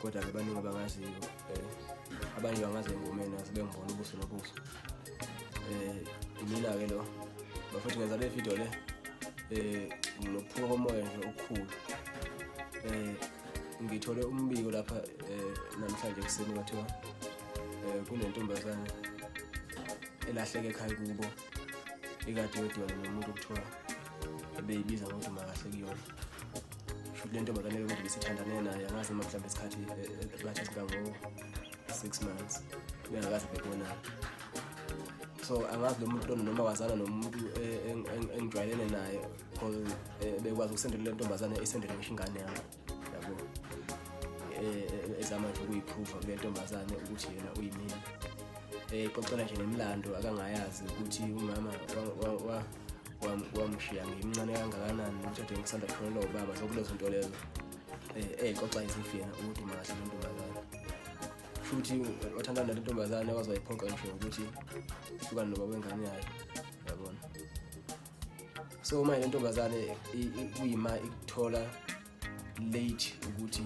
kodwa ke baningi abangaziyo um abanye bangazi engomeni asebengibona ubuso nobuso um imina-ke lo bafethu ngenza le video le um nokuphuka komoya nje okukhulu um ngithole umbiko lapha um namhlanje ekuseni kwathiwa um kunentombazane elahleke ekhaya kubo ikade yodwana nomuntu okuthiwa ebeyibiza ngokuthi makahle kuyona futhi le ntombi kanele ukuthi besithandane naye angazi uma mhlawumbe isikhathi e, e, e, bathi sikango-six months bengakaze bebonana so angazi lo muntu noma wazana nomuntu engijwayelene naye because bekwazi ukusendela le ntombazane isendele ngisho ingane yami yabo e, e, ezama nje ukuyiphruva kule ntombazane ukuthi yena uyimina eyixoxela nje nemlando akangayazi ukuthi umama wamshiya ngimncane kangakanani ukuthi ade ngisanda kushonela ubaba zokulezo nto lezo eyixoxa izifi yena ukuthi makahle le ntombazane futhi wathandana nale ntombazane waze wayiphoqa ngisho ukuthi ihlukane nobaba wengane yayo so manje lentombazane kuyima ikuthola late ukuthi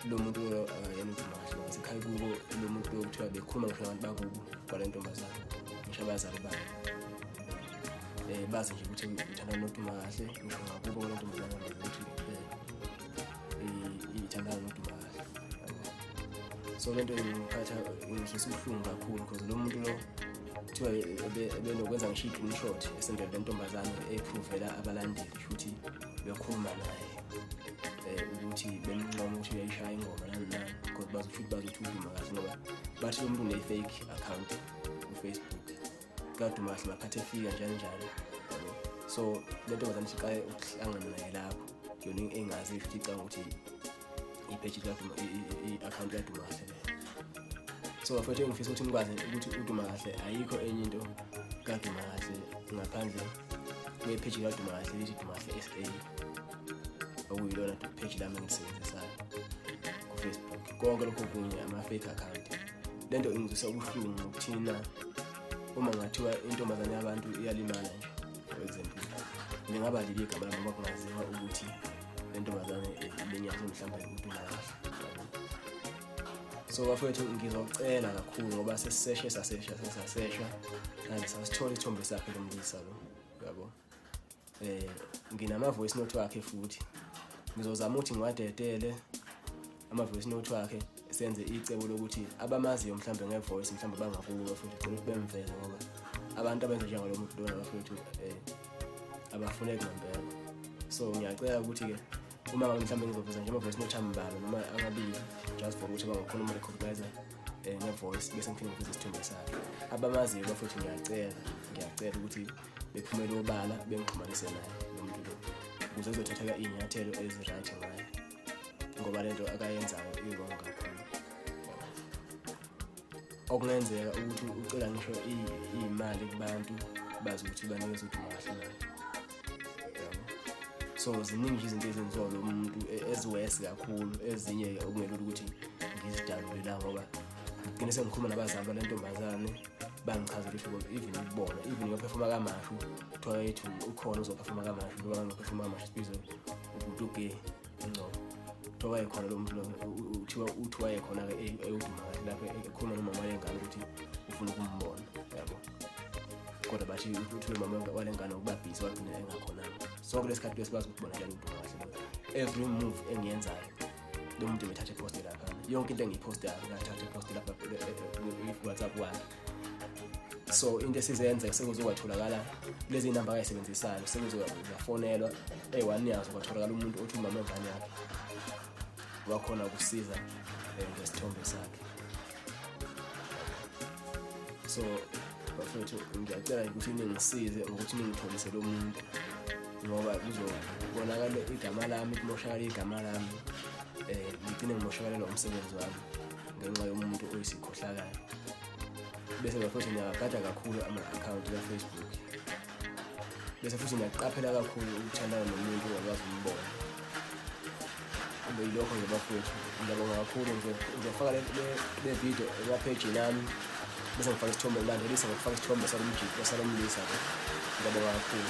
lo muntu akayena ukhuluma kahle ngasekhaya kubo lo muntu lokuthiwa bekhuluma ngisho abantu bakubo kwale ntombazane ngisho abazali bayo um bazi nje ukuthi ngithanda noduma kahle ngisho ngakubo kwale ntombazane ukuthi iyithandana noduma kahle so le nto ingiphatha ngidlisa ubuhlungu kakhulu because lo muntu lo kuthiwa ebenokwenza ngisho i-green shot esendele lentombazane eyiphuvela abalandeli kusho ukuthi bekhuluma naye um ukuthi bemncoma ukuthi uyayishaya ingoma nani nani kodwa bazi ukuthi bazi ukuthi uduma kahle ngoba bathi lo muntu une-fake account kufacebook kaduma kahle makhathi efika njalo njalo so le ntombazane siqale ukuhlangana naye lapho yona engazi futhi icanga ukuthi ipage likaduma i-akhawunti kaduma kahle so bafowethu engifisa ukuthi nikwazi ukuthi uduma kahle ayikho enye into kaduma kahle ngaphandle kwephage likaduma kahle lithi duma kahle sa okuyilona page lami engisebenzisayo kufacebook konke lokho kunye ama-fake account le nto ingizwisa ubuhlungu ngokuthina uma ngathiwa intombazane yabantu iyalimala nje kwezempilo lingaba libi igama lami ngoba kungaziwa ukuthi lentombazane ibenyathi mhlawumbe umuntu nakahle so bafowethu ngizocela kakhulu ngoba sesiseshe sasesha sesasesha and sasithola ithombe sakhe lomlisa lo yabo eh nginama voice note wakhe futhi ngizozama ukuthi ngiwadedele ama-voice note wakhe senze icebo lokuthi abamaziyo mhlawumbe nge-voice mhlawumbe bangakuwe futhi cela ukuthi bemveze ngoba abantu abenza njengalo muntu lona bafuna ukuthi um abafuneki ngempela so ngiyacela ukuthi-ke uma ngabe mhlawumbe ngizoveza nje ama-voice note ambalwa noma amabili just for ukuthi bangakhona uma recognize um nge-voice bese ngiphinde ngiveze isithombe sakhe abamaziyo bafuthi ngiyacela ngiyacela ukuthi bephumele obala bengixhumanise naye lo muntu lo ukuze ezothatheka iy'nyathelo ezi-right ngayo ngoba lento akayenzayo iwrong kakhulu okungenzeka ukuthi ucela ngisho iyimali kubantu bazi ukuthi banikeza ukuthi ungahlala so ziningi izinto ezenziwa lo muntu e, eziwesi kakhulu ezinye okungelula ukuthi ngizidalule la ngoba ngigcine sengikhuluma nabazali balentombazane bangichazela ukuthi even ukubona even ngiyophefoma kamashu kuthiwa yethu ukhona uzophefoma kamashu ngoba ngiyophefoma kamashu sibizwe ubhuti ugay ingcobo kuthiwa wayekhona lo muntu lona kuthiwa uthi wayekhona-ke eyoduma kahle lapho ekhuluma nomama walengane ukuthi ufuna ukumbona yabo kodwa basho ukuthi nomama walengane ubabhizi wagcina engakhonanga sonke lesikhathi besikwazi ukuthi bona njalo uduma kahle every move engiyenzayo lo muntu bethathe poste lapha yonke into engiyipostayo ngathatha poste lapha eh, eh, eh, whatsapp wakhe so into esizenza sekuze kwatholakala lezi namba ayisebenzisayo sekuze yafonelwa eyi-one yazo kwatholakala umuntu othi umama engane yakhe wakhona ukusiza eh, ngesithombe sakhe so bafethu ngiyacela ukuthi ningisize ngokuthi ningitholise lo muntu ngoba kuzobonakala igama lami kumoshakala igama lami um ngigcine ngimoshakalelwa umsebenzi wami ngenxa yomuntu oyisikhohlakala bese ngiya futhi ngiyagada kakhulu ama-akhawunti kafacebook bese futhi ngiyaqaphela kakhulu ukuthandana nomuntu ongakwazi umbona kube yilokho nje bafowethu ngiyabonga kakhulu nje ngiyofaka le video emaphejini nami bese ngifaka isithombe ngilandelisa ngokufaka isithombe salomjito salomlisa ke ngiyabonga kakhulu